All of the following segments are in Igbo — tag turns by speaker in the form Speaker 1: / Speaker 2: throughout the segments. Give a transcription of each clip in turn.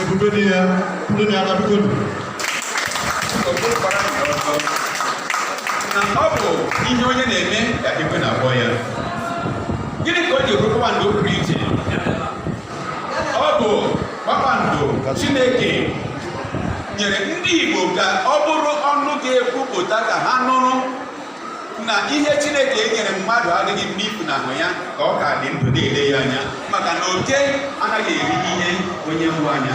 Speaker 1: ebube dị ya ndị na-aga bikodu na ọ bụ ihe onye na-eme ka ekwe na-akpọ ya gịnị ka o ji bụrụ kpakpando pụrụ iche ọ bụ kpakpando chineke nyere ndị igbo ka ọ bụrụ ọnụ ga-ekwupụta ka ha nụrụ na ihe chineke nyere mmadụ adịghị mma ifunahụ ya ka ọ ka dị ndụ na-ele ya anya maka na oke anaghị eri ihe onye mụ anya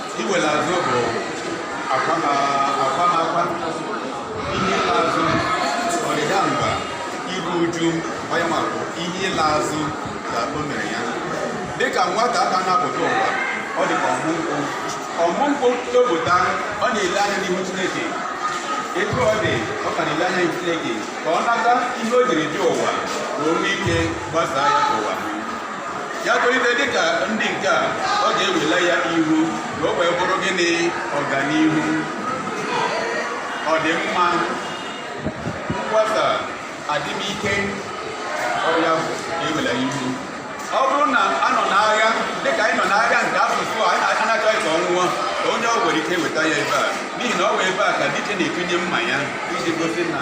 Speaker 1: Iwere azụ bụ akwa na-akwa ihe ịla azụ ọdịda mba iru uju onye ma bụ ihe ịla azụ ka o mere ya dịka nwata ka na-apụta ụwa ọ dịka ọmụ nkwụ ọmụ nkwụ topụta ọ na-ele anya n'ihu chineke etu ọ dị ọ ka na-ele anya n'ihu chineke ka ọ nata ihe o jiri dị ụwa ka o nwee ike gbasaa ya ka ụwa ya tolite dịka ndị nke a ọ ga-ewela ya ihu ka o wee bụrụ gịnị ọganihu ọdịmma mgbasa adịmike ọ ya bụ ewela ihu ọ bụrụ na a nọ n'agha dịka anyị nọ n'agha nke asụsụ a a na-achọghị ka ọ nwụọ ka onye o nwere ike weta ya ebe a n'ihi na ọ bụ ebe a ka dike na-etinye mma ya iji gosi na